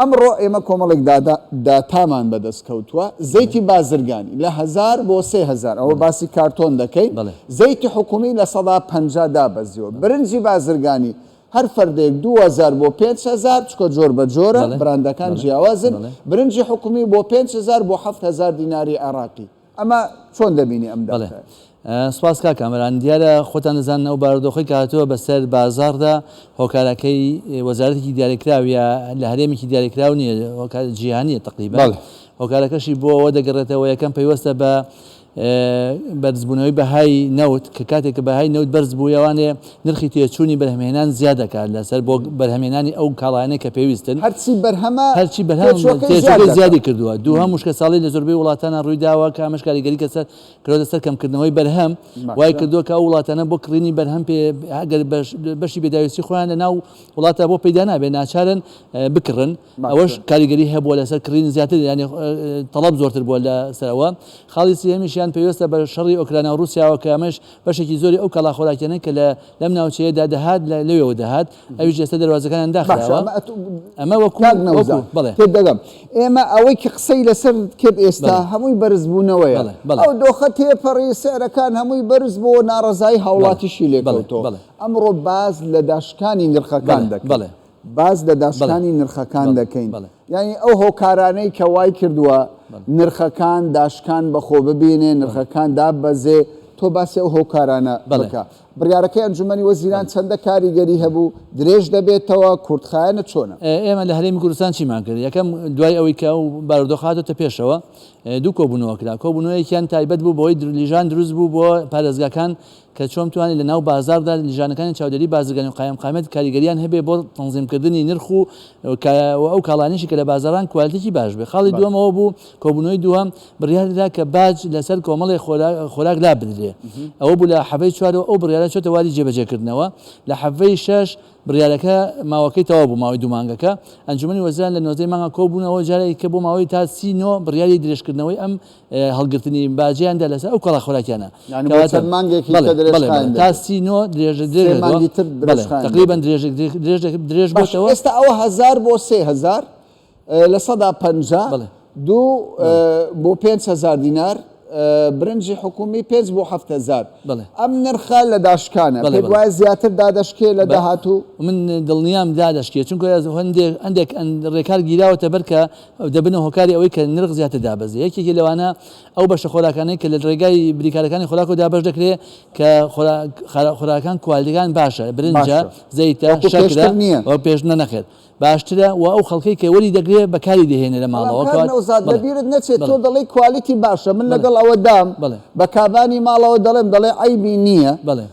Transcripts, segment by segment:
ئەمڕۆ ئێمە کۆمەڵێک دادا، Data، مان بەدەست کەوتووە، زەیتی بازرگانی لە هەزار بۆ سێ هەزار، ئەوە باسی کارتۆن دەکەین، زەیتی حکوومی لە سەدا پەنجا دابەزیوە، برنجی بازرگانی هەر فەردێک دوو هەزار بۆ پێنج هەزار، چونکە جۆر بە جۆرە، براندەکان جیاوازن، برنجی حکوومی بۆ پێنج هەزار بۆ حەفت هەزار دیناری عێراقی. ئەمە چۆن دەبینی ئەم دەقە؟ بەڵێ سوپاس کاک کامەران، دیارە خۆتان دەزانن ئەو بارودۆخەی کە هاتووە بەسەر بازاڕدا هۆکارەکەی وەزارەتێکی دیاریکراو یا لە هەرێمێکی دیاریکراو نییە، هۆکار جیهانییە تەقریبەن، هۆکارەکەشی بۆ ئەوە دەگەڕێتەوە یەکەم پەیوەستە بە بەرزبوونەوەی بەهای نەوت کە کاتێک کە بەهای نەوت بەرز بوو یەوانێ نرخی تێچوونی بەرهەمهێنان زیا دەکات لەسەر بۆ بەرهەمهێنانی ئەو کاڵایانەی کە پێویستن. هەرچی بەرهەمە، هەرچی بەرهەمە، تێچووەکەی زیاد تێچووەکەی زیادی دەکات. کردووە. دووهەم، وشکەساڵی لە زۆربەی وڵاتانا ڕووی داوە کە ئەمەش کاریگەری کە سەر کراوەتە سەر کەمکردنەوەی بەرهەم، وای باشە. کردووە کە ئەو وڵاتانە بۆ کڕینی بەرهەم پێ ئەگەر بەش بەشی پێداویستی خۆیان لە ناو وڵاتا بۆ پەیدا نابێت ناچارن بکڕن. ئەوەش کاریگەری هەبووە لەسەر کڕین زیاتر یانی تەڵەب زۆرتر بووە لە سەر ئەوە. خاڵی سێیەمیشیان پەیوەستە بە شەڕی ئۆکرانیا و ڕووسیاوە کە ئەمەش بەشێکی زۆری ئەو کاڵا خۆراکیانەی کە لە لەم ناوچەیە دا دەهات لە لەوێوە دەهات ئەویش ئێستا دەروازەکانیان داخراوە ئەمە وەکوو کاک نەوزاد بەڵێ تێت دەگەم ئێمە ئەوەی کە قسەی لەسەر کرد ئێستا بەڵێ هەمووی بەرز بوونەوەیە بەڵێ بەڵێ ئەو دۆخە تێپەڕی سعرەکان هەمووی بەرز بۆوە ناڕەزایی بەڵێ هاوڵاتیشی لێ بەڵێ کەوتەوە بەڵێ ئەمڕۆ باس لە داشکانی بەڵێ نرخەکان دەکەین. بەڵێ. باس لە داشکانی نرخەکان دەکەین، یانی ئەو هۆکارانەی کە وای کردووە نرخەکان داشکان بە خۆ ببینێ، نرخەکان داببەزێ، تۆ باسی ئەو هۆکارانە بکە. بڕیارەکەی ئەنجوومەنی وەزیران چەندە کاریگەری هەبوو، درێژ دەبێتەوە، کورتخایەنە چۆنە؟ ئێمە لە هەرێمی کوردستان چیمان کرد؟ یەکەم، دوای ئەوەی کە ئەو بارودۆخە هاتۆتە پێشەوە، دوو کۆبوونەوە کرا. کۆبوونەوەیەکیان تایبەت بوو بەوەی لیژان دروست بوو بۆ پارێزگاکان کە چۆن بتوانێت لە ناو بازاڕدا لیژانەکانی چاودێری بازرگانی و قایمقامیەت کاریگەریان هەبێت بۆ تەنزیم کردنی نرخ و کایە و ئەو کاڵانیشی کە لە بازاڕان کوالتیکی باش بێت خاڵی دووەم ئەوە بوو کۆبونەوەی دووەم بریار درا کە باج لە سەر کۆمەڵێ خۆراک لا بدرێت ئەوە بوو لە حەڤەی چوارەوە ئەو بریارە چۆتە واری جێ بەجێ کردنەوە لە حەڤەی شەش بریارەکە ماوەکەی تەواو بوو ماوەی دوو مانگەکە ئەنجومەنی وەزیران لە نۆزدە ی مانگا کۆ بوونەوە جارێکی کە بۆ ماوەی تا سی نۆ بریاری درێژ کردنەوەی ئەم هەڵگرتنی باجەیان دا لەسەر ئەو کاڵا خۆراکیانە کەواتە مانگێکی تر درێژ خایەن تا سی نۆ درێژە درێژ مانگی تر درێژ خایەن تقریبا درێژە درێژ درێژ باشەوە ئێستا ئەوە هەزار بۆ سێ هەزار لە سەدا پەنجا دوو بۆ پێنج هەزار دینار برنجی حکومی پێنج بۆ هەفت هەزار ئەم نرخە لە داشکانە پێت وایە زیاتر دادەشکێ لە داهاتوو من دڵنیام دادەشکێ چونکە هەندێک هەندێک ڕێکار گیراوەتە بەر کە دەبنە هۆکاری ئەوەی کە نرخ زیاتر دابەزێ، یەکێکی لەوانە ئەو بەشە خۆراکانەی کە لە ڕێگای بریکارەکانی خۆراکەوە دابەش دەکرێ کە خۆراکان کوالیتیەکان باشە، برنجە، زەیتە، شەکرە، وەک پێشتر نەخێر باشترە و ئەو خەڵکەی کە وەری دەگرێ بەکاری دەهێنێ لە ماڵەوە. بەڵام کاک نەوزاد لەبیرت نەچێ تۆ دەڵێی کوالیتی باشە من لەگەڵ ئەوەدام بە کابانی ماڵەوە دەڵێم دەڵێ عەیبی نییە،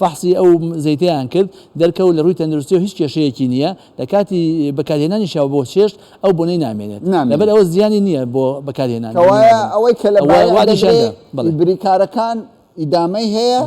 فەحسی ئەو زەیتەیان کرد، دەرکەوت لە ڕووی تەندروستییەوە هیچ کێشەیەکی نییە، لە کاتی بەکارهێنانیشیەوە بۆ چێشت ئەو بۆنەی نامێنێت، لەبەر ئەوە زیانی نییە بۆ بەکارهێنانی. کەوایە ئەوەی کە لە بایەع دەدرێ ی بریکارەکان ئیدامەی هەیە،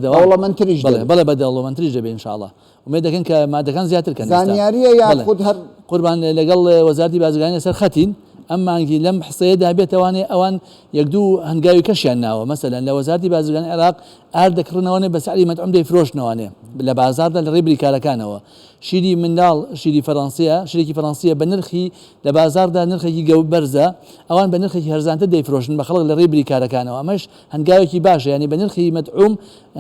دەوڵەمەندتریش دەبێ. بەڵێ بەڵێ دەوڵەمەندتریش دەبێ ان شاءاللە. ئومێد دەکەین کە مادەکان زیاتر کەن ئێستا. زانیارییە یاخود هەر. قوربان لەگەڵ وەزارەتی بازرگانی لەسەر خەتین، ئەم مانگی لەم حسەیەدا بێتەوانێ ئەوان یەک دوو هەنگاوی کەشیان ناوە، مەسەلەن لە وەزارەتی بازرگانی عێراق ئارد دەکڕنەوەێ بە سعری مەتعوم دەیفرۆشنەوەێ لە بازاردا لە ڕێی بریکارەکانەوە شیری منداڵ شیری فەرەنسیە شرێکی فەرەنسیە بە نرخی لە بازاردا نرخێکی گەو بەرزە ئەوان بە نرخێکی هەرزانتە دەیفرۆشن بە خەڵک لە ڕێی بریکارەکانەوە ئەمەش هەنگاوێکی باشە ینی بە نرخی مەتعوم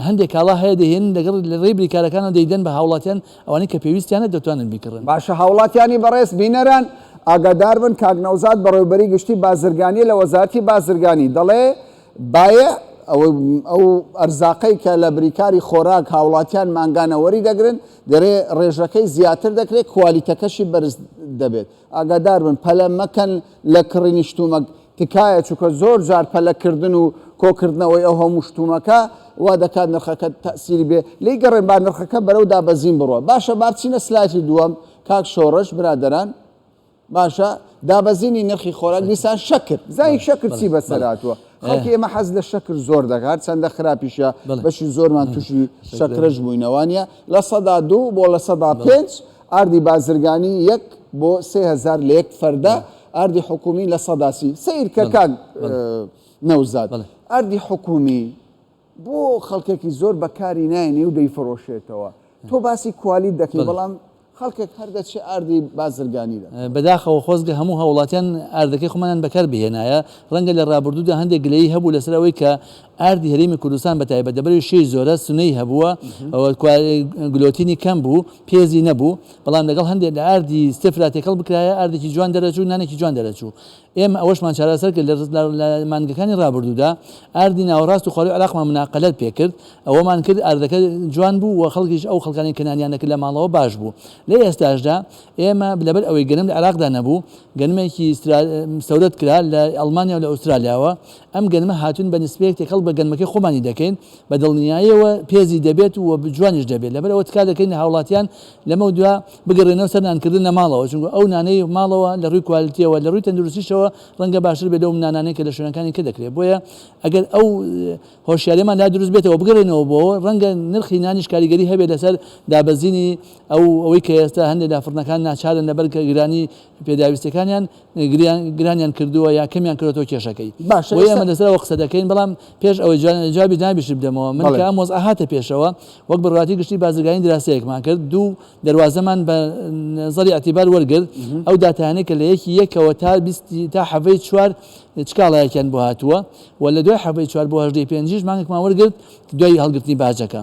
هەندێک کاڵا هەیە دەهێن لەگەڵ لە ڕێی بریکارەکانەوە دەیدەن بە هاوڵاتیان ئەوانەی کە پێویستیانە دەتوانن بیکڕن. باشە هاوڵاتیانی بەڕێز بینەران ئاگاداربن کاک نەوزاد بەڕێوبەری گشتی بازرگانی لە وەزارەتی بازرگانی دەڵێ، بایع، ئەو ئەرزاقەی کە لە بریکاری خۆراک هاوڵاتیان مانگانە وەری دەگرن، دەرێ ڕێژەکەی زیاتر دەکرێت، کوالیتەکەشی بەرز دەبێت. ئاگادار بن پەلە مەکەن لە کڕینی شتومەک، تکایە، چونکە زۆر جار پەلە کردن و کۆکردنەوەی ئەو هەموو شتومەکە وا دەکات نرخەکە تەئسیری بێ لێی گەڕێن با نرخەکە بەرەو دابەزین بڕوا. باشە با بچینە سلایتی دووەم کاک شۆڕش، برادەران. باشە دابەزینی نرخی خۆراک دیسان شەکر زای شەکر چی بەسەر هاتووە خەڵکی ئێمە حەز لە شەکر زۆر دەکات چەندە خراپیشە بەشی زۆرمان تووشی شەکرەش بووینەوانە لە سەدا دوو بۆ لە سەدا پێنج ئاردی بازرگانی یەک بۆ سهزار لە یەک فەردە ئاردی حکومی لە سەداسی سیرکەکان نەوزاد ئاردی حکومی بۆ خەڵکێکی زۆر بەکاری ناێنێ و دەیفرۆشێتەوە تۆ باسی کوالیت دەکەی بەڵام خەڵکێک هەر دەچێ ئاردی بازرگانی دەکا. بەداخەوە خۆزگە هەموو هاوڵاتیان ئاردەکەی خۆمانیان بەکار بهێنایە، ڕەنگە لە ڕابردوودا هەندێک گلەیی هەبوو لەسەر ئەوەی کە ئاردی هەرێمی کوردستان بە تایبەت لە بەرەی شێی زۆرە سنەی هەبووە و گلۆتینی کەم بوو پێزی نەبوو بەڵام لەگەڵ هەندێک لە ئاردی ستێفرا تێکەڵ بکرایە ئاردێکی جوان دەرەچوو نانێکی جوان دەرەچوو ئێمە ئەوەشمان چارەسەر کرد لە مانگەکانی رابردوودا ئاردی ناوەڕاست و خوارووی عێراقمان مناقەلەت پێکرد، ئەوەمان کرد ئاردەکە جوان بوو و خەڵکیش ئەو خەڵکانەی کە نانیان دەکرد لە ماڵەوە باش بوو. لە ئێستاشدا ئێمە لەبەر ئەوەی گەنم لە عێراقدا نەبوو، گەنمێکی ستەورد کرا لە ئەڵمانیا و لە ئوسترالیاوە، ئەم گەنمە هاتوون بە نسبەیەک تێکەڵ بە گەنمەکەی خۆمانی دەکەین، بە دڵنیایەوە پێزی دەبێت و جوانیش دەبێت، لەبەر ئەوە تکا دەکەین لە هاوڵاتیان لەمەو دوا بگەڕێنەوە سەر نانکردن لە ماڵەوە، چونکە ئەو نانەی ماڵەوە لە ڕووی کوالتیەوە لە ڕووی تەندروستیشەوە ڕەنگە باشتر بێت لەو نانانەی کە لە شوێنەکانی تر دەکرێت، بۆیە ئەگەر ئەو هۆشیاریەمان لا دروست بێتەوە بگەڕێنەوە بۆ ڕەنگە نرخی نانیش کاریگەری هەبێت لەسەر دابەزینی ئەو ئەوەی کە ئێستا هەندێک لە فڕنەکان ناچارن لەبەر گرانی پێداویستیەکانیان گرانیان کردووە یا کەمیان کردۆتەوە کێشەکەی بۆیە ئێمە لەسەر ئەوە قسە دەکەین بەڵام پێش ئەوەی جوابی جنابیشت بدەمەوە من کە ئەم وەزعە هاتە پێشەوە وەک بەڕواتی گشتی بازرگانی دراسەیەکمان کرد دوو دەروازەمان بە نەزەری ئەتیبار وەرگرت ئەو داتایانەی کە لە یەکی یەکەوە تا بیستی تا حەڤەی چوار چکاڵایەکیان بۆ هاتووە و لە دوای حەڤەی چوار بۆ هەژدەی پێنجیش مانگێکمان وەرگرت دوای هەڵگرتنی باجەکە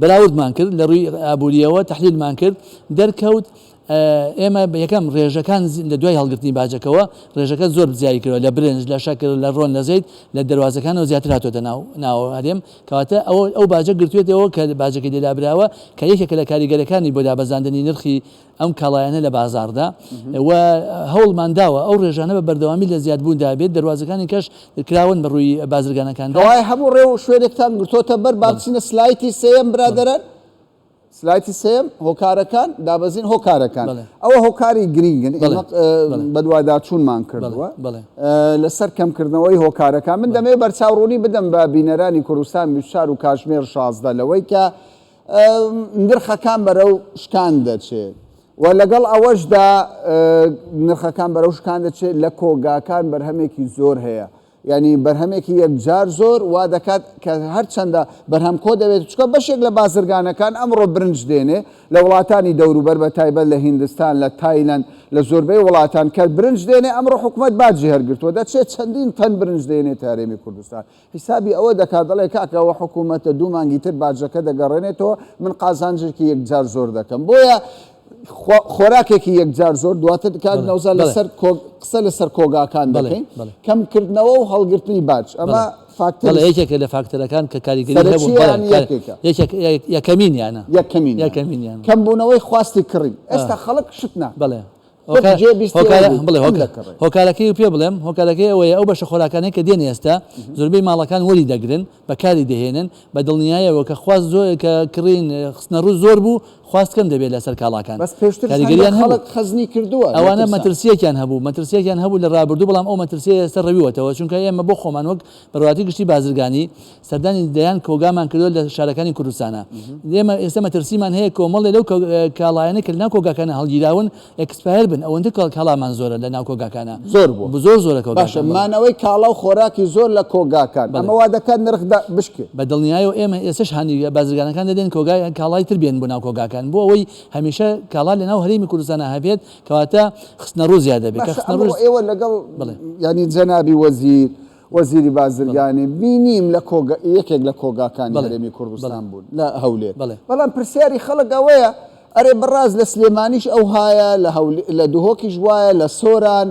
بەراوردمان کرد لەڕووی ئابوورییەوە تەحلیلمان کرد دەرکەوت ئێمە یەکەم ڕێژەکان لە دوای هەڵگرتنی باجەکەوە ڕێژەکە زۆر زیایی کردەوە لە برنج لە شەکر لە ڕۆن لە زەیت لە دەروازەکانەوە زیاتر هاتوۆتە ناو ناوە هەرێم کەواتە ئەوە ئەو باجە گرتوێتەوە کە باجەکەی لێدابراوە کە یەکێکە لە کاریگەرەکانی بۆ دابەزاندنی نرخی ئەم کاڵایانە لە بازاڕدا و هەوڵمان داوە ئەو ڕێژانە بە بەردەوامی لە زیادبووندا بێت، دەروازەکانی کەش کراون بە ڕووی بازرگانەکاندا. کەوایە هەموو ڕێ و شوێنێکتان گرتۆتە بەر، با بچینە سلایتی سێیەم برادەران، سلایتی سێیەم، هۆکارەکان، دابەزین هۆکارەکان، ئەوە هۆکاری گرینگن، ئێمە بەدواداچوونمان کردووە لەسەر کەمکردنەوەی هۆکارەکان، من دەمەوێت بەرچاوڕوونی بدەم بە بینەرانی کوردستان، بیست و چوار، و کاتژمێر شازدە، لەوەی کە. نرخەکان بەرەو شکان دەچێ و لەگەڵ ئەوەشدا نرخەکان بەرەو شکان دەچێت لە کۆگاکان بەرهەمێکی زۆر هەیە ینی بەرهەمێکی یەکجار زۆر وا دەکات کە هەرچەندە بەرهەم کۆ دەبێت چکە بەشێک لە بازرگانەکان ئەمڕۆ برنج دێنێ لە وڵاتانی دەوروبەر بە تایبەت لە هندستان لە تایلند لە زۆربەی وڵاتان کە برنج دێنێ ئەمڕۆ حکوومەت باجی هەرگرتووە دەچێت چەندین تەن برنج دێنێت هەرێمی کوردستان حیسابی ئەوە دەکات دەڵێ کاکە ئەوە حکوومەتە دوو مانگی تر باجەکە دەگەڕێنێتەوە من قازانجێکی یەکجار زۆر دەکەم بۆیە خۆراکێکی یەکجار زۆر دواتر دکات نەوزە لەسەر قسە لەسەر کۆگاکان دەڵێن کەم کردنەوە و هەڵگرتنی باج ئەمە فاکتەر یەکێکە لە فاکتەرەکان کە کاریگەری یەکەمینیانە یەکەمین یەکەمین کەم بوونەوەی خواستی کڕین ئێستا خەڵک شتنا بڵێ هۆکارەکەی پێ بڵێم هۆکارەکەی ئەوەیە ئەو بەشە خۆراکانەی کە دێن ئێستا زۆربەی ماڵەکان وەری دەگرن بە کاری دەهێنن بە دڵنیایەوە کە خواست زۆر کە کڕین خستنە ڕوو زۆر بوو خواست کەم دەبێت لەسەر کاڵاکان بەس پێشتر کاریگەریان خەڵک خەزنی کردووە ئەوانە مەترسیەکیان هەبوو مەترسیەکیان هەبوو لە ڕابردوو بەڵام ئەو مەترسیە ئێستا ڕەویوەتەوە چونکە ئێمە بۆ خۆمان وەک بەڕواتی گشتی بازرگانی سەردانی دەیان کۆگامان کردووە لە شارەکانی کوردستانا. ئێمە ئێستا مەترسیمان هەیە کۆمەڵێ لەو کاڵایانەی کە لە ناو کۆگاکانا هەڵگیراون ئێکسپایەر بن، ئەوەندە کاڵامان زۆرە لە ناو کۆگاکانا. زۆر بووە. زۆر زۆرە کۆگاکان. باشە مانەوەی کاڵا و خۆراکی زۆر لە کۆگاکان ئەمە وا دەکات نرخ بشکێ. بە دڵنیایەوە ئێمە ئێستاش هانی بازرگانەکان دەدەین کۆگای کاڵای تر بێنن بۆ ناو کۆگاکان بۆ ئەوەی هەمیشە کاڵا لە ناو هەرێمی کوردستانا هەبێت کەواتە خستنەڕوو زیاد دەبێت. باشە ئەمڕۆ ئێوە لەگەڵ یانی جەنابی وەزیر، وەزیری بازرگانی بینیم لە یەکێک لە کۆگاکانی هەرێمی کوردستان بوون لە هەولێر، بەڵام پرسیاری خەڵک ئەوەیە ئەرێ بەڕاست لە سلێمانیش ئەوهایە، لە دهۆکیش وایە، لە سۆران،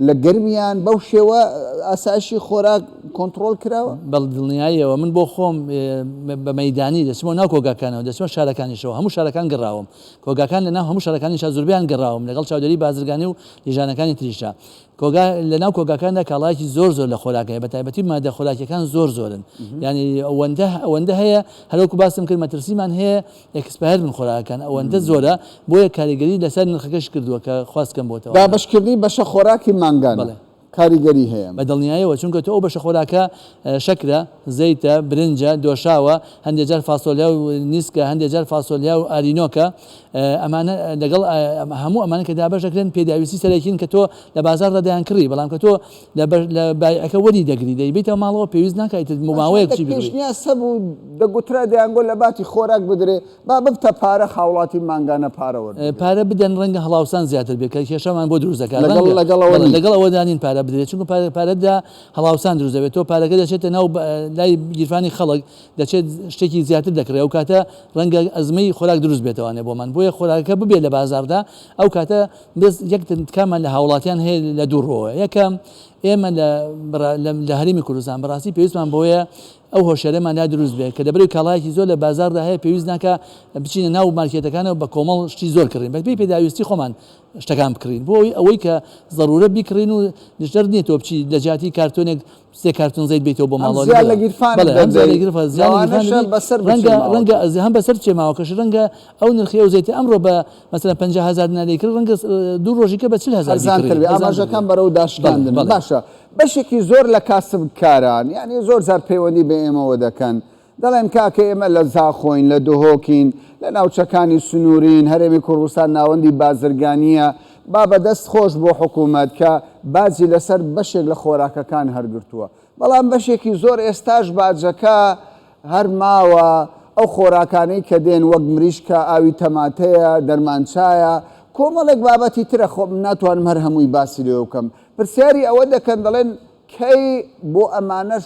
لە گەرمیان بەو شێوە ئاسایشی خۆراک کۆنتڕۆڵ کراوە؟ بە دڵنیاییەوە، من بۆ خۆم بە مەیدانی دەچمەوە ناو کۆگاکانەوە، دەچمە شارەکانیشەوە، هەموو شارەکان گەڕاوم، کۆگاکان لەناو هەموو شارەکانیشا زۆربەیان گەڕاوم، لەگەڵ چاودێری بازرگانی و لیژانەکانی تریشا، کۆگا، لە ناو کۆگاکاندا کاڵایەکی زۆر زۆر لە خۆراک هەیە، بە تایبەتی ماددە خۆراکییەکان زۆر زۆرن، یانی ئەوەندە ئەوەندە هەیە، هەر وەکو باسم کرد مەترسیمان هەیە ئێکسپایەر بن خۆراکەکان، ئەوەندە زۆرە، بۆیە کاریگەری لەسەر نرخەکەش کردووە کە خواست کەم بۆتەوە. دابەشکردنی بەشە خۆراکی مانگانە بەڵێ. کاریگەری هەیە. بە دڵنیایەوە، چونکە تۆ ئەو بەشە خۆراکە شەکرە، زەیتە، برنجە، دۆشاوە، هەندێ جار فاسۆلیا و نیسکە، هەندێ جار فاسۆلیا و ئارینۆکە، ئەمانە لەگەڵ هەموو ئەمانە کە دابەش دەکرێن پێداویستی سەرەکین کە تۆ لە بازاڕدا دەیانکڕی، بەڵام کە تۆ لە بایعەکە وەری دەگری دەیبەیتەوە ماڵەوە پێویست ناکا ئیتر ماوەیەک چی بکڕی. هەتا شەش سەد پێشنیاز هەبوو دەگوترا دەیانگوت لە باتی خۆراک بدرێ با ببتە پارە هاوڵاتی مانگانە پارە وەربگرێ. پارە بدەن ڕەنگە هەڵاوسان زیاتر بێت کە کێشەمان بۆ دروست دەکات ڕەنگە لەگەڵ ئەوەدا نین پارە بدرێت چونکە پارە دا هەڵاوسان دروست دەبێت تۆ پارەکە دەچێتە ناو لای گیرفانی خەڵک دەچێت شتێکی زیاتر دەکڕێت ئەو کاتە ڕەنگە ئەزمەی خۆراک دروست بێتەوانێ بۆمان بۆیە خۆراکەکە ببێت لە بازاردا ئەو کاتە بێت یەک تکامان لە هاوڵاتیان هەیە لە دوو ڕۆوە یەکەم ئێمە لە هەرمی کوردستان بەڕاستی پێویستمان بۆیە ئەو هۆشێرەمان لا دروست بێت کە دەبری کاڵایەکی زۆر لە بازاردا هەیە پێویست ناکە بچینە ناو مارکێتەکانەوە بە کۆمەڵ شتی زۆر کڕین بەبی پێداویستی خۆمان شتەکان بکڕین بۆی ئەوەی کە ضرورە بیکڕین و دژتر نیە تۆ بچی لە جیاتی کارتۆنێک سێ کارتۆن زەیت بەیتەوە بۆ ماڵەوە لەگەڵ ئەم بەڵێ هەم زیان لە گیرفانت زیان لە گیرفانت بەسەر ڕەنگە ڕەنگە ئەزێ هەم بەسەر چێ ماوەکەش ڕەنگە ئەو نرخی ئەو زەیتە ئەمڕۆ بە مەسەلەن پەنجا هەزار دینار دەیکڕی ڕەنگە دوو ڕۆژی کە بە چل هەزار هەرزانتر بێ ئاماژەکان بەرەو داشکاندن باشە بەشێکی زۆر لە کاسبکاران یانی زۆر جار پەیوەندی بە ئێمەوە دەکەن دەڵێن کاکە ئێمە لە زاخۆین، لە دهۆکین، لە ناوچەکانی سنوورین، هەرێمی کوردستان ناوەندی بازرگانییە، با بە دەست خۆش بۆ حکوومەت کە باجی لەسەر بەشێک لە خۆراکەکان هەر گرتووە، بەڵام بەشێکی زۆر ئێستاش باجەکە هەر ماوە، ئەو خۆراکانەی کە دێن وەک مریشکە، ئاوی تەماتەیە، دەرمانچایە، کۆمەڵێک بابەتی ترە خۆ من ناتوانم هەر هەمووی باسی لێوە بکەم، پرسیاری ئەوە دەکەن دەڵێن کەی بۆ ئەمانەش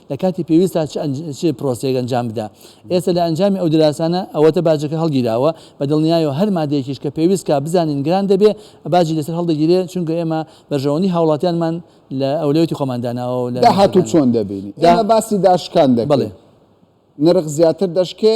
لە کاتی پێویستدا چ ئەنج چ پرۆسەیەک ئەنجام بدا. ئێستە لە ئەنجامی ئەو دراسانە ئەوەتە باجەکە هەڵگیراوە بە دڵنیایەوە هەر مادەیەکیش کە پێویست کا بزانین گران دەبێ باجی لەسەر هەڵدەگیرێ چونکە ئێمە بەرژەوەندی هاوڵاتیانمان لە ئەولەوێتی خۆمان داناوە و لە داهاتوو چۆن دەبینی؟ ئێمە باسی داشکان دەکەین بەڵێ. نرخ زیاتر دەشکێ؟